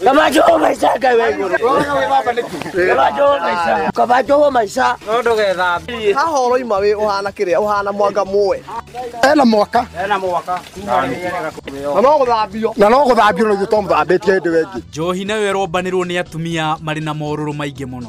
Gabajo maisha gawe gure. Wona we baba niki. Gabajo maisha. Gabajo maisha. No ndugetha. Ha horo ima we uhana kiria uhana mwanga muwe. Ena mwaka. Ena mwaka. Na no guthambio. Na no guthambio no gito muthambitie ndi wengi. Njohi nayo ĩrombanĩrwo nĩ atumia marĩ na morũrũ maingĩ mũno.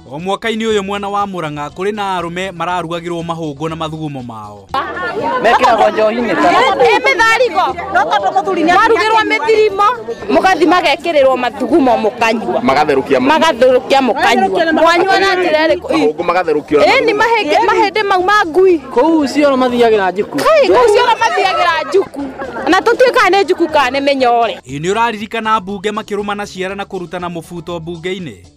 O mwaka-inĩ ũyũ mwena wa Murang'a kũrĩ na arũme mararugagĩrwo mahũngũ na mathugumo mao. Mekĩragwo njohi-inĩ mĩtharigo marugĩrwo mĩthirimo mũgathi magekĩrĩrwo mathugumo mũkanyua magatherũkia magatherũkia mũkanyua mwanyua na njĩra ĩrĩkũ mahũngũ magatherũkio ĩni mahĩndĩ mau ma ngui kũu cioro mathiagĩra njuku kũu cioro mathiagĩra njuku na tũtuĩkaga nĩ njuku kana nĩ mĩnyore. Ĩ nĩ ũraririkana mbunge makĩrũmana ciara na kũrutana mũbuto mbunge-inĩ?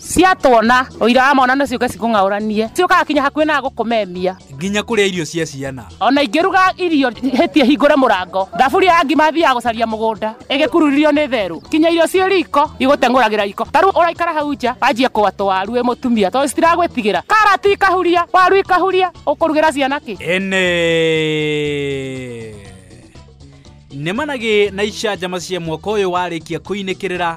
ciatuona ũira wa mwana no ciũke cikũng'aũranie ciũkaga kinya hakuhĩ na gũkũmemia nginya kũrĩa irio cia ciana ona ingĩruga irio hĩtie hingũre mũrango thaburi ya ngima thiaga gũcaria mũgũnda ĩgĩkururirio nĩ therũ kinya irio ciĩ riko igũteng'ũragĩra riko ta rĩu ũraikara hau nja wanjie kũgwa tũwaru wĩ mũtumia tondũ citiragwĩtigĩra karati ikahuria waru ikahuria ũkũrugĩra ciana kĩ ene nĩmanagĩ na icanjama cia mwaka ũyũ warĩkia kũinĩkĩrĩra